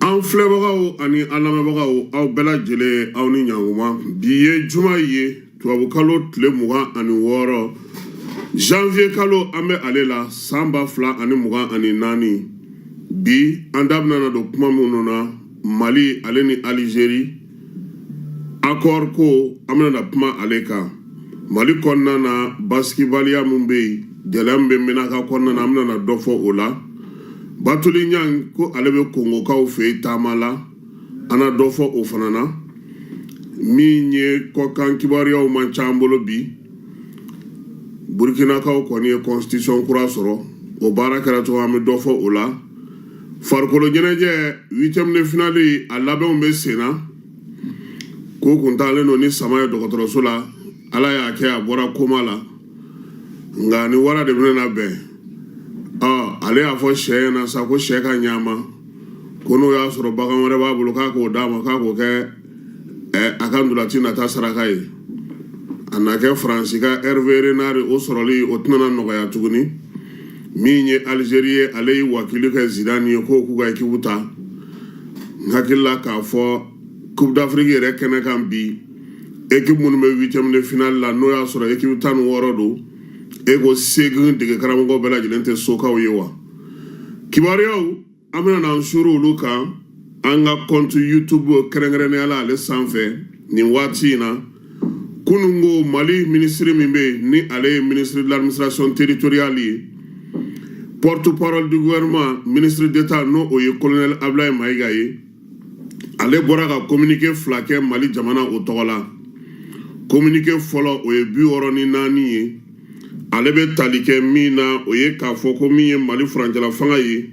an filɛbagaw ani an lamɛnbagaw aw bɛɛ lajɛlen aw ni ɲanguma bi ye juma ye tubabukalo tile mugan ani wɔɔrɔ janvier kalo an bɛ ale la san ba fila ani mugan ani naani bi an da bɛna na don kuma minnu na mali ale ni alizeri Akɔri ko an bɛna na kuma ale kan mali kɔnɔna na basigibaliya min bɛ yen gɛlɛya min bɛ menaka kɔnɔna na an bɛna na dɔ fɔ o la batuli ɲan ko ale bɛ kongokaw fɛ taama la an na dɔ fɔ o fana na min ye kɔkan kibaruyaw man ca an bolo bi burukinakaw kɔni ye constitution kura sɔrɔ o baara kɛra cogo an bɛ dɔ fɔ o la farikolo ɲɛnajɛ huitième de finale a labɛnw bɛ sen na ko kun taalen don ni sama ye dɔgɔtɔrɔso la ala y'a kɛ a bɔra koma la nka ni wara de bɛna na bɛn ɔ ale y'a fɔ sɛ ɲɛna sa ko sɛ ka ɲa a ma ko n'o y'a sɔrɔ bagan wɛrɛ b'a bolo k'a k'o d'a ma k'a k'o kɛ a ka ntolaci nata saraka ye a na kɛ faransi ka herve renard o sɔrɔli o tɛna nɔgɔya tuguni min ye alizeri ye ale ye wakili kɛ zidane ye k'o k'u ka ekipu ta n hakili la k'a fɔ coupe d'afrique yɛrɛ kɛnɛ kan bi ekipu minnu bɛ huitième de finale la n'o y'a sɔrɔ ekipu tan ni wɔɔrɔ don e ko seegin dege karamɔgɔ bɛɛ lajɛlen tɛ sokaw ye wa kibaruyaw an bɛna n'an suru olu kan an ka compte youtube kɛrɛnkɛrɛnnenya la ale sanfɛ nin waati in na kunun ko mali minisiri min bɛ yen ni ale ye ministre de l'administration territoriale ye porte parole du gouvernement ministre d'état n'o o ye colonel ablaye mayiga ye ale bɔra ka kominike fila kɛ mali jamana o tɔgɔ la kominike fɔlɔ o ye bi wɔɔrɔ ni naani ye ale bɛ tali kɛ min na o ye k'a fɔ ko min ye mali furancɛla fanga ye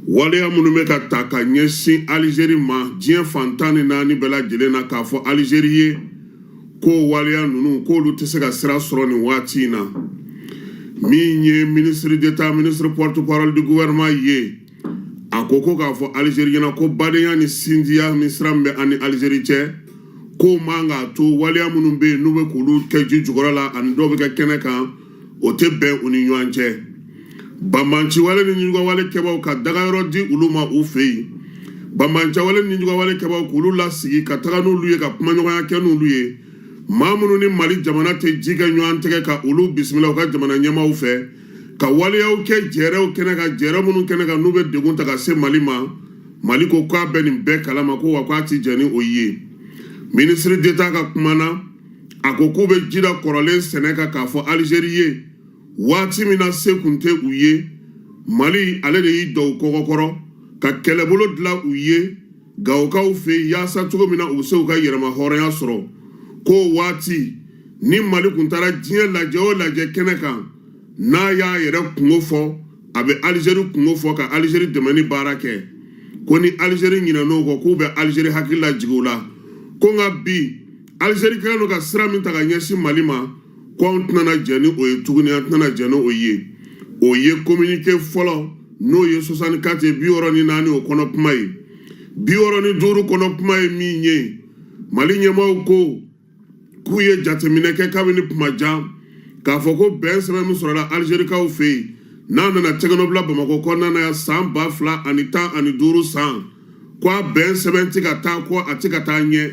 waleya minnu bɛ ka ta ka ɲɛsin alizeri ma diɲɛ fan tan ni naani bɛɛ lajɛlen na k'a fɔ alizeri ye ko waleya ninnu k'olu tɛ se ka sira sɔrɔ nin waati in na min ye ministre d'état ministre porte parole du gouvernement ye a ko ko k'a fɔ alizeri ɲɛna ko badenya ni sinjiya ni sira min bɛ a ni alizeri cɛ k'o man k'a to waleya minnu bɛ yen n'u bɛ k'olu kɛ ji jukɔrɔ la ani dɔw bɛ kɛ kɛnɛ kan o tɛ bɛn u ni ɲɔgɔn cɛ banbanciwale ni nijuguyawale kɛbaaw ka dagayɔrɔ di olu ma u fɛ yen banbanciwale ni nijuguyawale kɛbaaw k'olu lasigi ka taga n'olu ye ka kumaɲɔgɔnya kɛ n'olu ye maa minnu ni mali jamana tɛ ji kɛ ɲɔgɔn tɛgɛ ka olu bisimila u ka jamana ɲɛmaaw fɛ ka waleyaw kɛ jɛɛrɛw kɛnɛ kan jɛɛrɛ minnu kɛnɛ kan n'u bɛ degun ta ka se mali ma mali ko k'a bɛ nin bɛɛ kalama ko wa k'a ti jɛn ni o ye minisiri deta ka kuma na a ko k'u bɛ jida kɔrɔlen sɛnɛ kan k'a fɔ alizeri ye waati min na se kun tɛ u ye mali ale de y'i don u kɔgɔkɔrɔ ka kɛlɛbolo dilan u ye gawokaw fɛ yen yaasa cogo min na u bɛ se u ka yɛrɛmahɔrɔnya sɔrɔ k'o waati ni mali kun taara diɲɛ lajɛ o lajɛ kɛnɛ kan n'a y'a yɛrɛ kunko fɔ a bɛ alizeri kunko fɔ ka alizeri dɛmɛni baara kɛ ko ni alizeri ɲinɛn'o kɔ k'u bɛ alizeri hakili lajigin o la ko nka bi alizeri kɛlen don ka sira min ta ka ɲɛsin mali ma ko anw tɛna jɛn ni o ye tuguni an tɛna jɛn ni o ye o ye kominike fɔlɔ n'o ye soixante-quatre ye bi wɔɔrɔ ni naani o kɔnɔ kuma ye bi wɔɔrɔ ni duuru kɔnɔ kuma ye min ye mali ɲɛmaaw ko k'u ye jateminɛ kɛ kabini kuma jan k'a fɔ ko bɛn sɛbɛn min sɔrɔla alizerikaw fɛ yen n'a nana tɛgɛnɔbila bamakɔ kɔnɔna na yan san ba fila ani tan ani duuru san ko a bɛn sɛbɛn tɛ ka taa ko a tɛ ka taa ɲɛ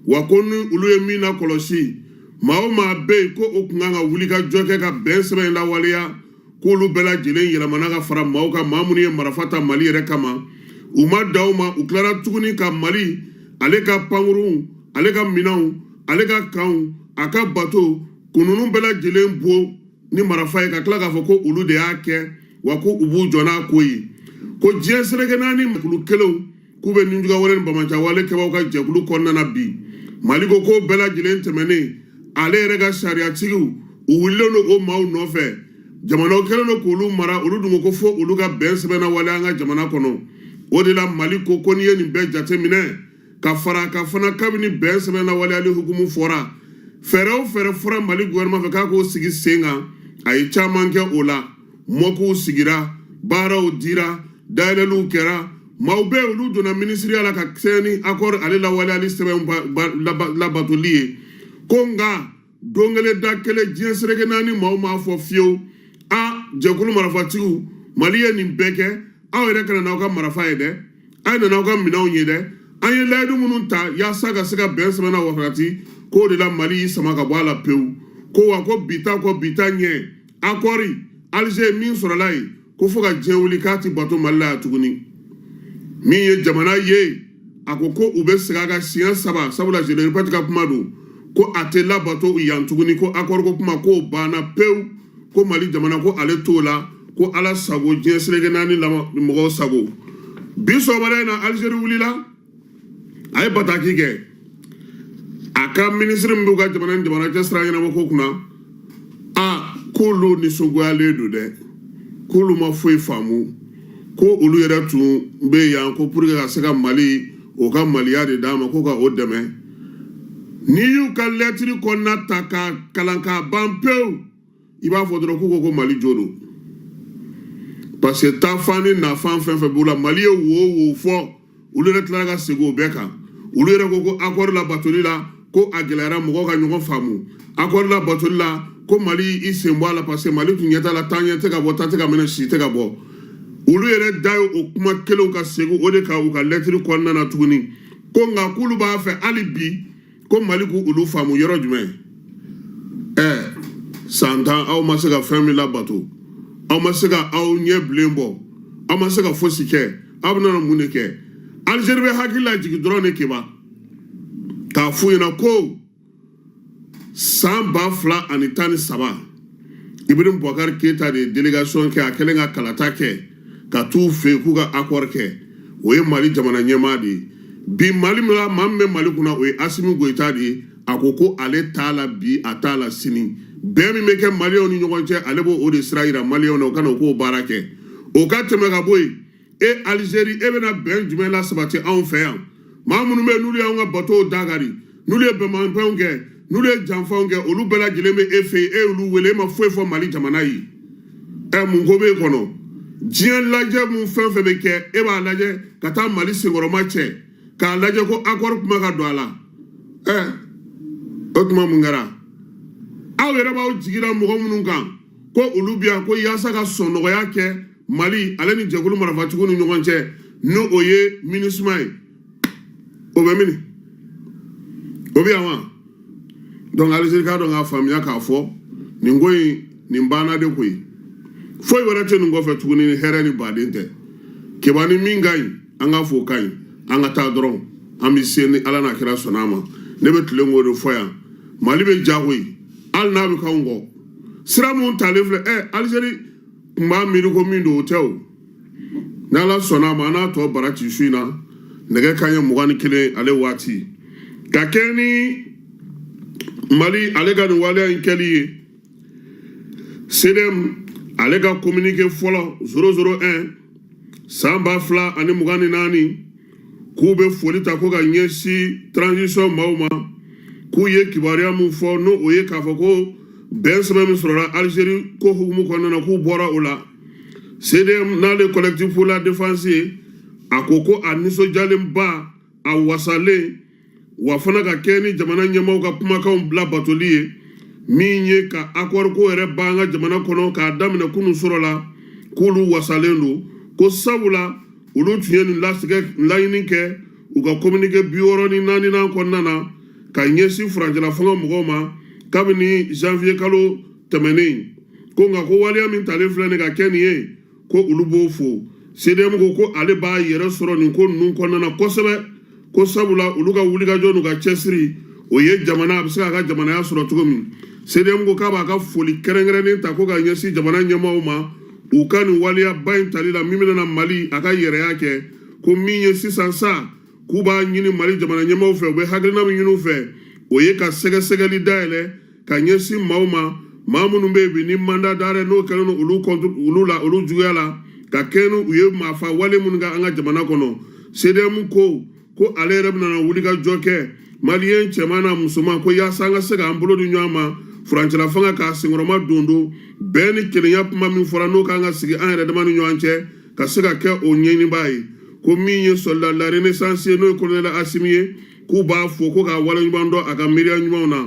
wa ko ni olu ye min nakɔlɔsi maa o maa bɛ yen ko u kun kan ka wulikajɔ kɛ ka bɛn sɛbɛn in lawaleya k'olu bɛɛ lajɛlen yɛlɛmana ka fara maaw kan maa minnu ye marafa ta mali yɛrɛ kama u ma dan o ma u tilara tuguni ka mali ale ka pankurunw ale ka minɛnw ale ka kanw a ka bato ko ninnu bɛɛ lajɛlen bon ni marafa ye ka tila k'a fɔ ko olu de y'a kɛ wa ko u b'u jɔ n'a ko ye ko diɲɛ seleke naani kulu kelenw k'u bɛ nijuguya wale ni banbaanciya wale kɛbaaw ka jɛkulu kɔnɔna na bi mali ko k'o bɛɛ lajɛlen tɛmɛnen ale yɛrɛ ka sariyatigiw u wulilen don o maaw nɔfɛ jamanaw kɛlen don k'olu mara olu dun ko fo olu ka bɛn sɛbɛn nawaleya an ka jamana kɔnɔ o de la mali ko ko n'i ye nin bɛɛ jateminɛ ka fara kan fana kabini bɛn sɛbɛn nawaleyali hukumu fɔra fɛɛrɛ o fɛɛrɛ fɔra mali gouvernement fɛ k'a k'o sigi sen kan a ye caman kɛ o la mɔkuw sigira baaraw dira dayɛlɛliw kɛra maaw bɛɛ olu donna minisiriya la ka kɛɲɛ ni akɔri ale lawaleyali sɛbɛn labatoli ye ko nka don kelen da kelen diɲɛ seleke naani maaw m'a fɔ fiyewu a jɛkulu marafatigiw mali ye nin bɛɛ kɛ aw yɛrɛ ka na n'aw ka marafa ye dɛ a ye na n'aw ka minɛnw ye dɛ an ye layidu minnu ta yaasa ka se ka bɛn sɛbɛnna wafarati k'o de la mali y'i sama ka bɔ a la pewu ko wa ko bi ta kɔ bi ta ɲɛ akɔri alize min sɔrɔla yen ko fo ka diɲɛ wuli k'a ti bato mali la yan tuguni min ye jamana ye a ko ko u bɛ segin a kan siɲɛ saba sabula je le répète ka kuma don ko a tɛ labato yan tuguni ko akɔri ko kuma k'o banna pewu ko mali jamana ko ale t'o la ko ala sago diɲɛ seleke naani mɔgɔw sago bi sɔgɔmada in na alizeri wulila a ye bataki kɛ a ka minisiri min b'u ka jamana ni jamana cɛ sira ɲɛnabɔ ko kunna a k'olu nisɔngoyalen don dɛ k'olu ma foyi faamu ko olu yɛrɛ tun bɛ yan ko pour que ka se ka mali o ka maliya de d'a ma ko ka o dɛmɛ n'i y'u ka lɛtiri kɔnɔna ta k'a kalan k'a ban pewu i b'a fɔ dɔrɔn k'u ko ko mali jo don parce que taafan ni nafan fɛn fɛn b'u la mali ye wo wo fɔ olu yɛrɛ tilara ka segin o bɛɛ kan olu yɛrɛ ko ko akɔri labatoli la ko a gɛlɛyara mɔgɔw ka ɲɔgɔn faamu akɔri labatoli la ko mali y'i sen bɔ a la parce que mali tun ɲɛ t'a la taa ɲɛ tɛ ka bɔ ta tɛ ka mɛnɛ sisi tɛ ka bɔ olu yɛrɛ da ye o kuma kelenw ka segin o de kan u ka lɛtiri kɔnɔna na tuguni ko nka k'olu b'a fɛ hali bi ko mali k'olu faamu yɔrɔ jumɛn ɛ san tan aw ma se ka fɛn min labato aw ma se ka aw ɲɛ bilen bɔ aw ma se ka fosi kɛ aw bɛna mun de kɛ alizeri bɛ hakili lajigin dɔrɔn de keba k'a f'u ɲɛna ko san ba fila ani tan ni saba ibrahim bubakari keyita de ye delegation kɛ a kɛlen ka kalata kɛ ka t'u fɛ yen k'u ka akɔri kɛ o ye mali jamana ɲɛmaa de ye bi mali min la maa min bɛ mali kunna o ye asimi goyita de ye a ko ko ale t'a la bi a t'a la sini bɛn min bɛ kɛ maliyɛnw ni ɲɔgɔn cɛ ale b'o o de sira yira maliyɛnw na o ka na o k'o baara kɛ o ka tɛmɛ ka bɔ yen e alizeri e bɛna bɛn jumɛn lasabati anw fɛ yan maa minnu bɛ yen n'olu y'anw ka batow dakari n'olu ye bɛnbalimanfɛnw kɛ n'olu ye janfanw kɛ olu bɛɛ lajɛlen bɛ e fɛ yen e y'olu wele e ma foyi fɔ mali jamana ye ɛ mun ko b'e kɔnɔ diɲɛ lajɛ min fɛn fɛn bɛ kɛ e b'a lajɛ ka taa mali senkɔrɔmacɛ k'a lajɛ ko akɔri kuma ka don a la ɛ o tuma mun kɛra aw yɛrɛ b'aw jigi da mɔgɔ minnu kan ko olu bɛ yan ko yaasa ka sɔnnɔgɔya kɛ mali ale ni jɛkulu marafatigiw ni ɲɔgɔn cɛ n'o ye minisuma ye o bɛ mini o bɛ yan wa dɔnku alizeri k'a dɔn k'a faamuya k'a fɔ nin ko in nin banna de koyi foyi wɛrɛ tɛ nin kɔfɛ tuguni ni hɛrɛ ni baden tɛ keba ni min ka ɲi an k'a fɔ o ka ɲi an ka taa dɔrɔn an bɛ se ni ala n'a kira sɔnna a ma ne bɛ tilen k'o de fɔ yan mali bɛ jɔ koyi hali n'a bɛ k'anw kɔ sira min talen filɛ ɛ alizeri tun b'a miiri ko min don o tɛ o n'ala sɔnna a ma an n'a tɔ bara ci su in na nɛgɛ kanɲɛ mugan ni kelen ale waati ka kɛ ni mali ale ka nin waleya in kɛli ye sedem ale ka kominike fɔlɔ zero zero 1 san ba fila ani mugan ni naani k'u bɛ foli ta ko ka ɲɛsin transition maaw ma k'u ye kibaruya min fɔ n'o ye k'a fɔ ko bɛnsɛbɛn min sɔrɔla alizeri k'o hukumu kɔnɔna na k'u bɔra o la CDM n'ale collectif pour la défense ye a ko ko a nisɔndiyalenba a wasalen wa fana ka kɛ ni jamana ɲɛmaaw ka kumakanw bila batoli ye min ye ka accord ko yɛrɛ ban an ka jamana kɔnɔ k'a daminɛ kunu surɔ la k'olu wasalen don ko sabula olu tun ye nin laɲini kɛ u ka communiqué bi wɔɔrɔ ni naaninan kɔnɔna na ka ɲɛsin furancɛla fanga mɔgɔw ma kabini janvier kalo tɛmɛnen ko nka ko waleya min talen filɛ nin ka kɛ nin ye ko olu b'o fo cdm ko ko ale b'a yɛrɛ sɔrɔ nin ko ninnu kɔnɔna na kosɛbɛ ko sabula olu ka wulikajɔ n'u ka cɛsiri o ye jamana a bɛ se k'a ka jamanaya sɔrɔ cogo min cdm ko k'a b'a ka foli kɛrɛnkɛrɛnnen ta ko ka ɲɛsin jamana ɲɛmaaw ma u ka nin waleyaba in tali la min bɛna na mali a ka yɛrɛya kɛ ko min ye sisan sa k'u b'a ɲini mali jamana ɲɛmaaw fɛ u bɛ hakilina min ɲini u fɛ o ye ka sɛgɛsɛgɛli dayɛlɛ ka ɲɛsin maaw ma maa minnu bɛ yen bi ni mandat d'arrêt n'o kɛlen don olu juguya la ka kɛɲɛ ni u ye maafa wale minnu kɛ an ka jamana kɔnɔ CDM ko ko ale yɛrɛ bɛna na wulikajɔ kɛ maliyɛn cɛman n'a musoman ko yaasa an ka se k'an bolo di ɲɔgɔn ma furancɛla fanga k'a senkɔrɔmadondon bɛɛ ni kelenya kuma min fɔra n'o k'an ka sigi an yɛrɛ dama ni ɲɔgɔn cɛ ka se ka kɛ o ɲɛɲinibaa ye ko min ye soldat la renaissance ye n'o ye kolonɛli asimi ye k'u b'a fo ko k'a waleɲuman dɔn a ka miiriya ɲumanw na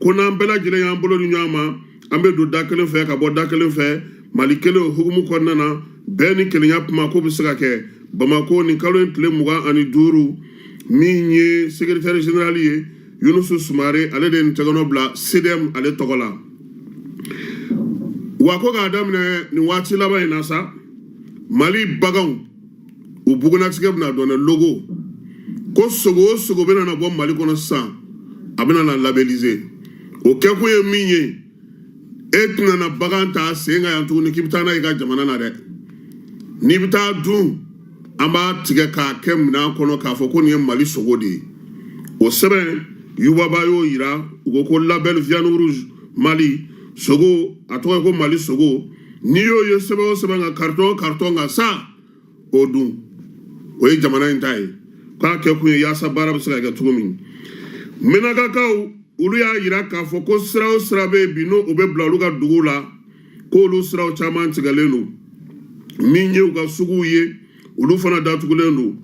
ko n'an bɛɛ lajɛlen y'an bolo di ɲɔgɔn ma an bɛ don da kelen fɛ ka bɔ da kelen fɛ mali kelen o hukumu kɔnɔna na bɛɛ ni kelenya kuma ko bɛ se ka kɛ bamako nin kalo in tile mugan ani duuru min ye sekretɛri zenerali ye yunusu sumare ale de ye nin tɛgɛnɔ bila cdm ale tɔgɔ la wa ko k'a daminɛ nin waati laban in na sa mali baganw u bugunnatigɛ bɛna dɔn dɛ logo ko sogo o sogo bɛna na bɔ mali kɔnɔ sisan a bɛna na labelliser o kɛkun ye min ye e tɛna na bagan ta sen kan yan tuguni k'i bɛ taa n'a ye ka jamana na dɛ n'i bɛ taa dun an b'a tigɛ k'a kɛ minɛn kɔnɔ k'a fɔ ko nin ye mali sogo de ye o sɛbɛn yuba ba y'o yira u ko ko label viande rouge mali sogo a tɔgɔ ye ko mali sogo n'i y'o ye sɛbɛn o sɛbɛn kan karitɔn o karitɔn kan sa o dun o ye jamana in ta ye k'a kɛ kun ye yaasa baara bɛ se ka kɛ cogo min mɛnakakaw olu y'a yira k'a fɔ ko sira o sira bɛ yen bi n'o bɛ bila olu ka duguw la k'olu siraw caman tigɛlen don min ye u ka suguw ye olu fana datugulen don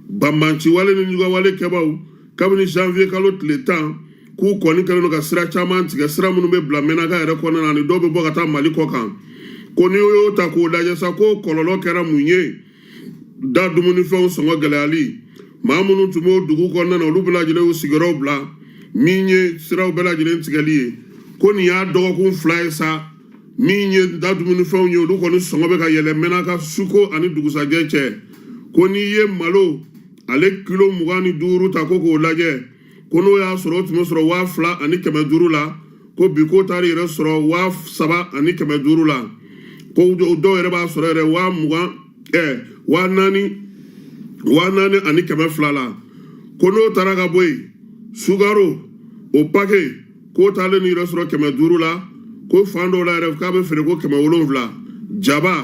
banbanciwale ni ɲugawale kɛbaaw kabini janvier kalo tile tan k'u kɔni kɛlen don ka sira caman tigɛ sira minnu bɛ bila menaka yɛrɛ kɔnɔna na ani dɔw bɛ bɔ ka taa mali kɔkan ko n'i y'o ta k'o lajɛ sa ko kɔlɔlɔ kɛra mun ye da dumunifɛnw sɔngɔ gɛlɛyali maa minnu tun b'o dugu kɔnɔna na olu bɛɛ lajɛlen y'u sigiyɔrɔw bila min ye siraw bɛɛ lajɛlen tigɛli ye ko nin y'a dɔgɔkun fila ye sa min ye da dumunifɛnw ye olu kɔni sɔngɔ bɛ ka yɛlɛ menaka suko ani dugusajɛ cɛ ko n'i ye malo ale kilo mugan ni duuru ta ko k'o lajɛ ko n'o y'a sɔrɔ o tun bɛ sɔrɔ waa fila ani kɛmɛ duuru la ko bi k'o taara yɛrɛ sɔrɔ waa saba ani kɛmɛ duuru la ko dɔw yɛrɛ b'a sɔrɔ yɛrɛ waa mugan ɛɛ eh, waa naani waa naani ani kɛmɛ fila la ko n'o taara ka bɔ yen sukaro o pake k'o taalen ni yɛrɛ sɔrɔ kɛmɛ duuru la ko fan dɔw la yɛrɛ k'a bɛ feere ko kɛmɛ wolonwula jaba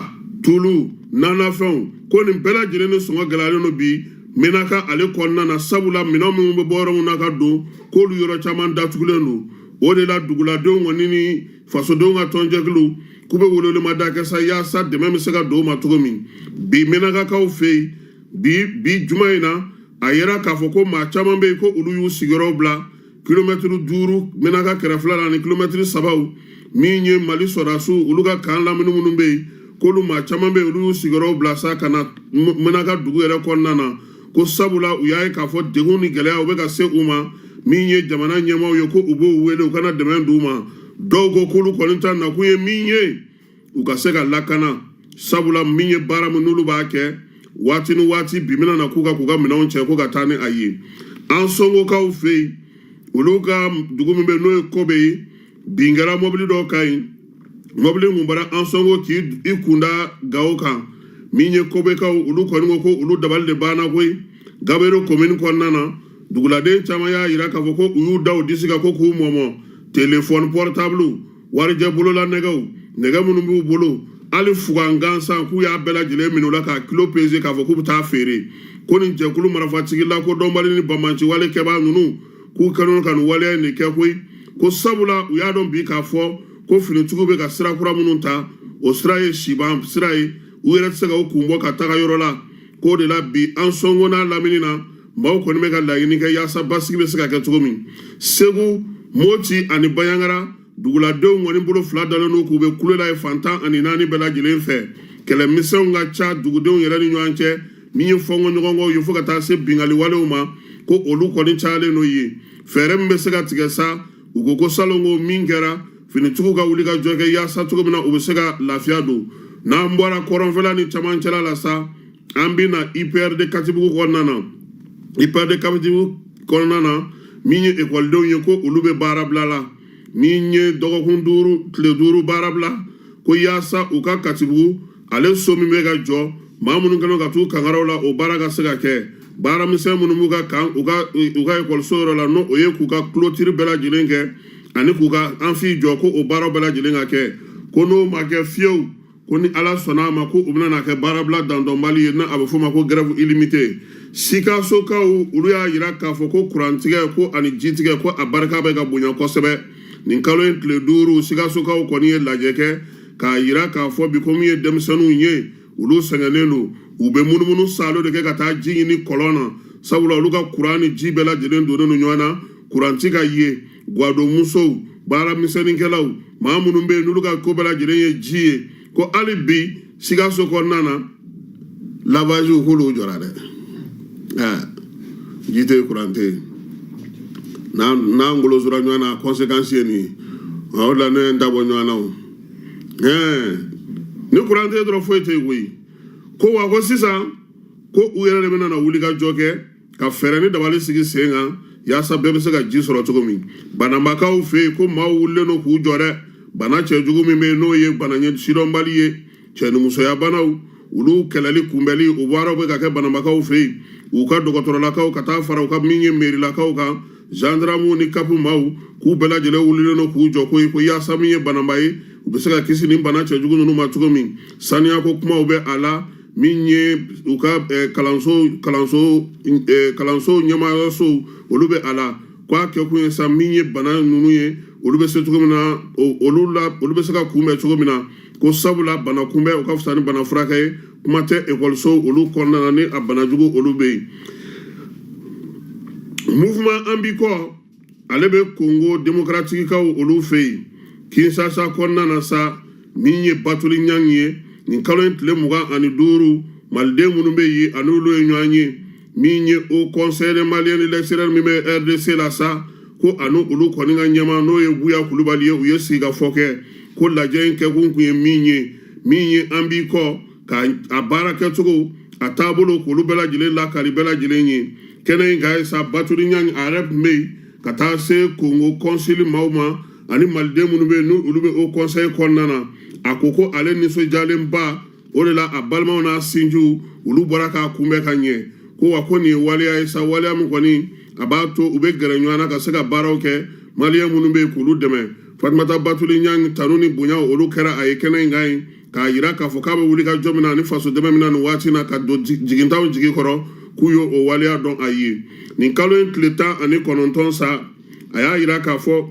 tulu nanafɛnw ko nin bɛɛ lajɛlen ni sɔngɔ gɛlɛyalen don bi menaka ale kɔnɔna na sabula minɛn minnu bɛ bɔ yɔrɔ minnu na ka don k'olu yɔrɔ caman datugulen don o de la duguladenw kɔni ni fasodenw ka tɔnjɛkulu k'u bɛ welewelemada kɛ sa yaasa dɛmɛ bɛ se ka don u ma cogo min bi menakakaw fɛ yen bi bi juma in na a yira k'a fɔ ko maa caman bɛ yen ko olu y'u sigiyɔrɔw bila kilomɛtiri duuru menaka kɛrɛfɛla la ni kilomɛtiri sabaw min ye mali sɔrɔdasiw olu ka kan lamini minnu bɛ yen k'olu maa caman bɛ yen olu y'u sigiyɔrɔw bila sa ka na menaka dugu yɛrɛ kɔnɔna na ko sabula u y'a ye k'a fɔ degun ni gɛlɛyaw bɛ ka se u ma min ye jamana ɲɛmaaw ye ko u b'u wele u ka na dɛmɛ d'u ma dɔw ko k'olu kɔni ta nakun ye min ye u ka se ka lakana sabula min ye baara min n'olu b'a kɛ waati ni waati bi mina na k'u ka k'u ka minɛnw cɛ ko ka taa ni a ye ansɔngokaw fɛ yen olu ka dugu min bɛ n'o ye kobe ye bin kɛra mɔbili dɔ kan yen mɔbili kun bɔra ansɔngo k'i kunda gawo kan min ye kobekaw olu kɔni ko ko olu dabali de banna koyi gabero komini kɔnɔna na duguladen caman y'a yira k'a fɔ ko u y'u da u disi kan ko k'u mɔmɔ telefɔni pɔrɔtabulu warijɛ bolola nɛgɛw nɛgɛ minnu b'u bolo hali fugan gansan k'u y'a bɛɛ lajɛlen minɛ u la k'a kilo peze k'a fɔ k'u bɛ taa feere ko nin jɛkulu marafatigi lakodɔnbali ni banbaanci wale kɛbaa ninnu k'u kɛlen ka nin waleya in de kɛ koyi ko sabula u y'a dɔn bi k'a fɔ ko finitigiw bɛ ka sira kura minnu ta o sira ye siban sira ye u yɛrɛ tɛ se ka u kun bɔ ka taga yɔrɔ la k'o de la bi ansɔngo n'a lamini na maaw kɔni bɛ ka laɲini kɛ yaasa basigi bɛ se ka kɛ cogo min segu moti ani banjagara duguladenw kɔni bolo fila dalen don k'u bɛ kule la yen fan tan ani naani bɛɛ lajɛlen fɛ kɛlɛmisɛnw ka ca dugudenw yɛrɛ ni ɲɔgɔn cɛ min ye fɔnkɔ ɲɔgɔnkɔw ye fo ka taa se binkanni walew ma ko olu kɔni cayalen don yen fɛɛrɛ min bɛ se ka tigɛ sa u ko ko salon ko min kɛra finitigiw ka wulikajɔ kɛ yaasa cogo min na u bɛ se ka lafiya don n'an bɔra kɔrɔnfɛla ni camancɛla la sa an bɛ na IPRD Katibugu kɔnɔna na IPRD Katibugu kɔnɔna na min ye ekɔlidenw ye ko olu bɛ baarabila la min ye dɔgɔkun duuru tile duuru baarabila ko yaasa u ka Katibugu ale so min bɛ ka jɔ maa minnu kɛlen ka t'u kangaraw la o baara ka se ka kɛ baara misɛn minnu b'u ka kan u ka u ka ekɔliso yɔrɔ la n'o o ye k'u ka clôture bɛɛ lajɛlen kɛ ani k'u ka amphi jɔ ko o baaraw bɛɛ lajɛlen ka kɛ ko n'o ma kɛ fiyewu ko ni ala sɔnna a ma ko u bɛna kɛ baarabila dandɔnbali ye n'a a bɛ f'o ma ko grève illimité sikasokaw olu y'a yira k'a fɔ ko kurantigɛ ko ani jitigɛ ko a barika bɛ ka bonya kosɛbɛ nin kalo in tile duuru sikasokaw kɔni ye lajɛ kɛ k'a yira k'a fɔ bi ko min ye denmisɛnninw ye olu sɛgɛnnen don u bɛ munumunu saalo de kɛ ka taa ji ɲini kɔlɔn na sabula olu ka kuran ni ji bɛɛ lajɛlen donnen don ɲɔgɔn na kuran tɛ ka ye gwadonmusow baaramisɛnninkɛlaw maa minnu bɛ yen n'olu ka ko bɛɛ lajɛlen ye ji ye ko hali bi sikaso kɔnɔna na lavaziw k'olu jɔra dɛ ɛɛ ji tɛ yen kuran tɛ yen n'an n'an golosora ɲɔgɔn na conséquence ye nin ye o de la ne ye n dabɔ ɲɔgɔn na o ɛɛ ni kuran tɛ yen dɔrɔn foyi tɛ yen koyi ko wa ko sisan ko u yɛrɛ de bɛna na wulikajɔ kɛ ka fɛɛrɛ ni dabali sigi sen kan yaasa bɛɛ bɛ se ka ji sɔrɔ cogo min banabakaw fɛ yen ko maaw wulilen don k'u jɔ dɛ bana cɛjugu min bɛ yen n'o ye bana ɲɛ sidɔnbali ye cɛnimusoya banaw olu kɛlɛli kunbɛli o baaraw bɛ ka kɛ banabakaw fɛ yen u ka dɔgɔtɔrɔlakaw ka taa fara u ka min ye merilakaw kan zandaramuw ni kapu maaw k'u bɛɛ lajɛlen wulilen don k'u jɔ koyi ko yaasa min ye banaba ye u bɛ se ka kisi ni bana cɛjugu ninnu ma cogo min saniyako kumaw bɛ a la min ye u ka eh, kalanso kalanso eh, kalanso ɲɛmaayɔrɔso olu bɛ a la k'a kɛkun ye sa min ye bana ninnu ye olu bɛ se cogo min na olu la olu bɛ se ka kunbɛn cogo min na ko sabula bana kunbɛn o ka fisa ni bana furakɛ ye kuma tɛ ekɔliso olu kɔnɔna na ni a bana jugu olu bɛ yen mouvement an b'i kɔ ale bɛ kongo demokaratikikaw olu fɛ yen kinsasa kɔnɔna na sa min ye batuli ɲang ye nin kalo in tile mugan ani duuru maliden minnu bɛ yen ani olu ye ɲɔgɔn ye min ye haut conseil des maliens de l'extérieur min bɛ rdc la sa ko ani olu kɔni ka ɲɛmaa n'o ye buya kulubali ye u ye sigikafɔ kɛ ko lajɛ in kɛkun tun ye min ye min ye an b'i kɔ ka a baara kɛcogo a taabolo k'olu bɛɛ lajɛlen lakali bɛɛ lajɛlen ye kɛnɛ in kan yen sa batuli ɲang a yɛrɛ tun bɛ yen ka taa se kongo kɔnsili maaw ma ani maliden minnu bɛ yen n'olu bɛ haut conseil kɔnɔna na a ko ko ale nisɔndiyalenba o de la a balimaw n'a sinjiw olu bɔra k'a kunbɛn ka ɲɛ ko wa ko nin ye waleya ye sa waleya min kɔni a b'a to u bɛ gɛrɛ ɲɔgɔn na ka se ka baaraw kɛ maliyɛn minnu bɛ yen k'olu dɛmɛ fatumata batuli ɲang tanu ni bonya olu kɛra a ye kɛnɛ in kan yen k'a yira k'a fɔ k'a bɛ wuli ka jɔ min na ani faso dɛmɛ min na nin waati na ka don jigitanw jigi kɔrɔ k'u ye o waleya dɔn a ye nin kalo in tile tan ani kɔnɔntɔn sa a y'a yira k'a fɔ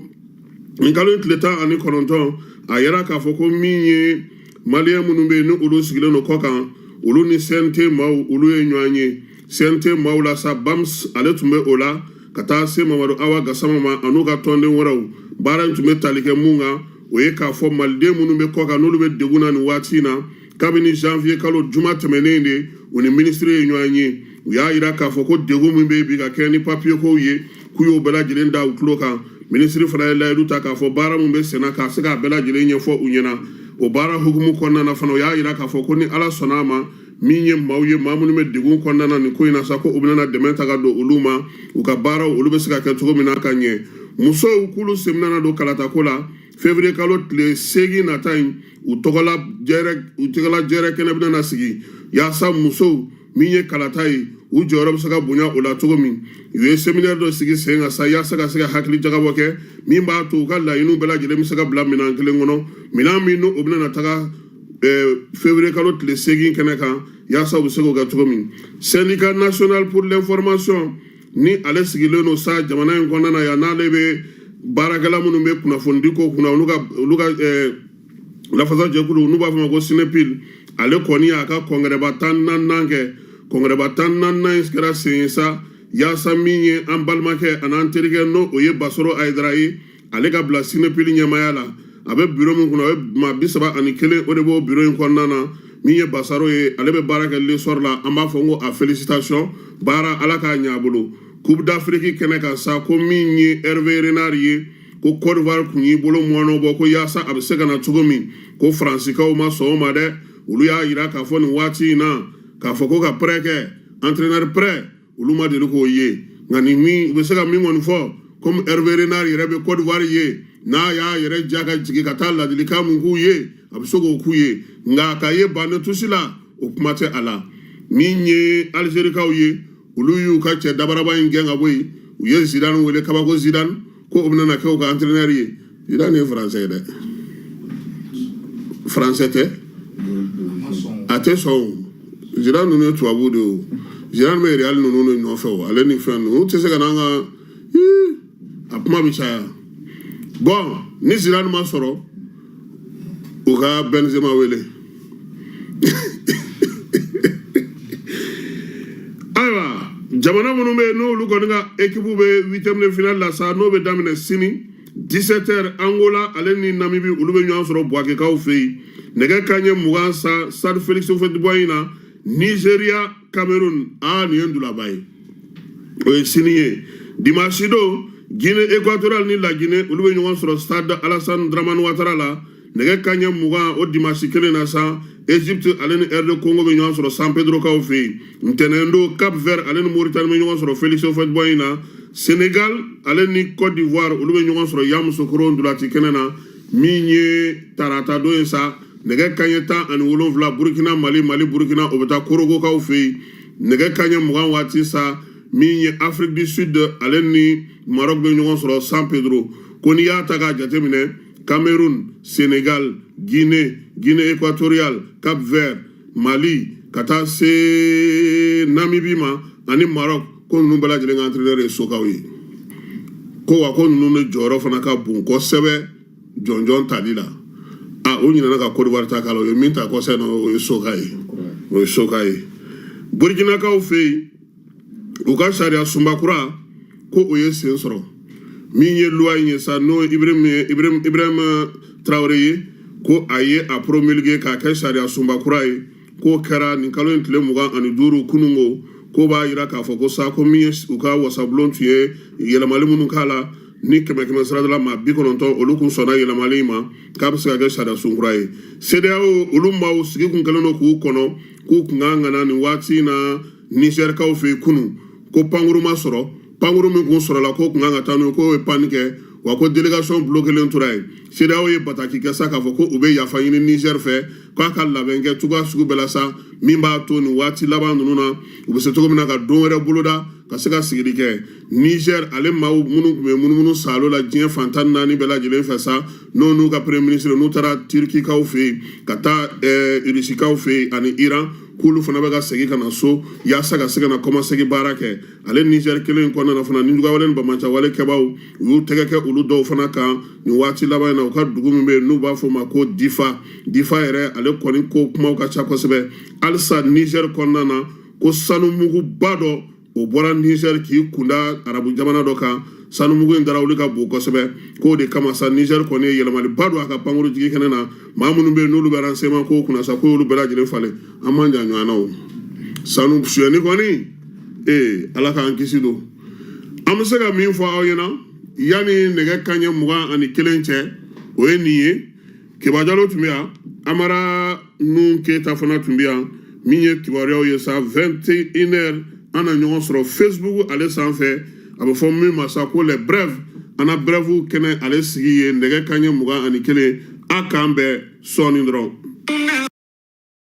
nin kalo in tile tan ani kɔnɔntɔn a yira k'a fɔ ko min ye maliyɛn minnu bɛ yen ni olu sigilen don kɔ kan olu ni cnt maaw olu ye ɲɔgɔn ye cnt maaw la sa bams ale tun bɛ o la ka taa se mamadu awa gasama ma an'u ka tɔnden wɛrɛw baara in tun bɛ tali kɛ mun kan o ye k'a fɔ maliden minnu bɛ kɔkan n'olu bɛ degun na nin waati in na kabini janvier kalo juma tɛmɛnen de u ni minisiri ye ɲɔgɔn ye u y'a yira k'a fɔ ko degun min bɛ yen bi ka kɛɲɛ ni papiye kow ye k'u y'o bɛɛ lajɛlen da u tulo kan minisiri fana ye layidu ta k'a fɔ baara min bɛ senna ka se k'a bɛɛ lajɛlen ɲɛfɔ u ɲɛna o baara hukumu kɔnɔna na fana u y'a yira k'a fɔ ko ni ala sɔnna a ma min ye maaw ye maa minnu bɛ degun kɔnɔna na nin ko in na sa ko u bɛna na dɛmɛ ta ka don olu ma u ka baaraw olu bɛ se ka kɛ cogo min na ka ɲɛ musow k'olu sen bɛna na don kalatako la fevriye kalo tile seegin nata in u tɔgɔla jɛrɛ kɛnɛ bɛna na sigi yaasa musow min ye kalata ye u jɔyɔrɔ bɛ se ka bonya o la cogo min u ye seminɛri dɔ sigi sen kan sa yaasa ka se ka hakili jagabɔ kɛ min b'a to u ka laɲiniw bɛɛ lajɛlen bɛ se ka bila minɛn kelen kɔnɔ minɛn min n'o bɛna na taga fevrier kalo tile seegin kɛnɛ kan yaasa u bɛ se k'o kɛ cogo min syndicat national pour l'information ni ale sigilen don sa jamana in kɔnɔna na yan n'ale bɛ baarakɛla minnu bɛ kunnafonidi ko kunna olu ka lafasa jɛkulu n'u b'a fɔ ma ko sinepil ale kɔni y'a ka kɔngɛrɛba tan naaninan kɛ kɔngɛrɛba tan naaninan in kɛra sen ye sa yaasa min ye an balimakɛ an'an terikɛ n'o o ye basaro ayidara ye ale ka bila sinepil ɲɛmaaya la a bɛ biro min kunna a bɛ maa bi saba ani kelen o de b'o biro in kɔnɔna na min ye basaro ye ale bɛ baara kɛ lesɔri la an b'a fɔ n ko a felisitasiyɔn baara ala k'a ɲɛ a bolo coupe d'afrique kɛnɛ kan sa ko min ye herve renard ye ko kɔdiwari kun y'i bolo mɔɔnɔ bɔ ko yaasa a bɛ se ka na cogo min ko faransikaw ma sɔn o ma dɛ olu y'a yira k'a fɔ nin waati in na k'a fɔ ko ka prɛ kɛ entraîneur prɛ olu ma deli k'o ye nka nin min u bɛ se ka min kɔni fɔ komi Hervé Renard yɛrɛ bɛ Côte d'Ivoire ye n'a y'a yɛrɛ ja ka jigin ka taa ladilikan mun k'u ye a bɛ se k'o k'u ye nka k'a ye banc de touche la o kuma tɛ a la min ye Algérikaw ye olu y'u ka cɛ dabaraba in gɛn ka bɔ yen u ye Zidane wele kabako Zidane ko o bɛna na kɛ u ka antirinɛri ye zidane ye faransɛ ye dɛ faransɛ tɛ a tɛ sɔn o zidane ninnu ye tubabu de ye o zidane bɛ real ninnu de nɔfɛ o ale ni fɛn ninnu tɛ se ka n'an ka a kuma bɛ caya bɔn ni zidane ma sɔrɔ u ka bɛnzema wele ayiwa jamana minnu bɛ yen n'olu kɔni ka ekipu bɛ huitième de finale la sa n'o bɛ daminɛ sini 17 heures angola ale ni namibi olu bɛ ɲɔgɔn sɔrɔ buwakekaw fɛ yen nɛgɛ kanɲɛ mugan sa stade félix houphouët-boigny na nizeriya cameroun aa nin ye ndulaba ye o ye sini ye dimansi don guinée équatoriale ni lagine olu bɛ ɲɔgɔn sɔrɔ stade alassane dramani watara la nɛgɛ kaɲɛ mugan o dimansi kelen na sa egypte ale ni rd congo bɛ ɲɔgɔn sɔrɔ san pedrokaw fɛ yen ntɛnɛn don cap vert ale ni mauritani bɛ ɲɔgɔn sɔrɔ félix houphouët-boigny na senegal ale ni côte d'ivoire olu bɛ ɲɔgɔn sɔrɔ yamusokoro ndulati kɛnɛ na min ye tarata don ye sa nɛgɛ ka ɲɛ tan ani wolonwula burukina mali mali burukina o bɛ taa korogokaw fɛ yen nɛgɛ ka ɲɛ mugan waati sa min ye afrique du sud ale ni marɔk bɛ ɲɔgɔn sɔrɔ san pedro ko n'i y'a ta k'a jateminɛ cameroun senegal guinée guinée équatoriale cap vert mali ka taa se namibi ma ani marɔk ko ninnu bɛɛ lajɛlen ka entraîneur ye sokaw ye ko wa ko ninnu de jɔyɔrɔ fana ka bon kosɛbɛ jɔnjɔn tali la a o ɲinana ka kodiwari ta k'a la o ye min ta kɔsɛ na o ye soka ye o ye soka ye burukinakaw fɛ yen u ka sariya sunba kura ko o ye sen sɔrɔ min ye loi in ye sa n'o ibirahima ye ibirahima tarawele ye ko a ye a promulguer k'a kɛ sariya sunba kura ye k'o kɛra nin kalo in tile mugan ani duuru kununko k'o b'a jira k'a fɔ ko sa ko min ye u ka wasabulon tun ye yɛlɛmali minnu k'a la ni kɛmɛ kɛmɛsarada la maa bi kɔnɔntɔn olu kun sɔnna yɛlɛmali in ma k'a bɛ se ka kɛ sariya sun kura ye CEDEAO olu maaw sigi kun kɛlen don k'u kɔnɔ k'u kun ka kan ka na nin waati in na Nizɛrikaw fɛ yen kunun ko pankuru ma sɔrɔ pankuru min kun sɔrɔla k'o kun kan ka taa n'o ye k'o ye panne kɛ wa ko délégation bulokelen tora yen sedeyawo ye bataki kɛ sa k'a fɔ ko u bɛ yafa ɲini nizɛri fɛ k'a ka labɛn kɛ cogoya sugu bɛɛ la sa min b'a to nin waati laban ninnu na u bɛ se cogo min na ka don wɛrɛ boloda ka se ka sigili kɛ nizɛri ale maaw minnu tun bɛ munumunu saalo la diɲɛ fan tan ni naani bɛɛ lajɛlen fɛ sa n'o n'u ka premier ministre n'u taara turikikaw fɛ yen ka taa ɛɛ rusikaw fɛ yen ani iran k'olu fana bɛ ka segin ka na so yaasa ka se ka na kɔmasegin baara kɛ ale nizɛri kelen in kɔnɔna fana ni juguyawale ni banbaanciyawale kɛbaaw u y'u tɛgɛ kɛ olu dɔw fana kan nin waati laban in na u ka dugu min bɛ yen n'u b'a fɔ o ma ko difa difa yɛrɛ ale kɔni ko kumaw ka ca kosɛbɛ halisa nizɛri kɔnɔna na ko sanumuguba dɔ o bɔra nizɛri k'i kunda arabu jamana dɔ kan sanumugu in dara olu ka bon kosɛbɛ k'o de kama sa nizɛri kɔni ye yɛlɛmaliba don a ka pankuru jigi kɛnɛ na maa minnu bɛ yen n'olu bɛ renseignement ko kunna sa k'olu bɛɛ lajɛlen falen an man jan ɲɔgɔn na o sanu suyɛni kɔni ee ala k'an kisi don an bɛ se ka min fɔ aw ɲɛna yanni nɛgɛ kanɲɛ mugan ani kelen cɛ o ye nin ye keba jalo tun bɛ yan amara nun keyita fana tun bɛ yan min ye kibaruyaw ye sa 21 heures an na ɲɔgɔn sɔrɔ facebook ale sanfɛ a bɛ fɔ min ma sa ko les brèves an na brèves kɛnɛ ale sigi ye nɛgɛ kanɲɛ mugan ani kelen a k'an bɛn sɔɔni dɔrɔn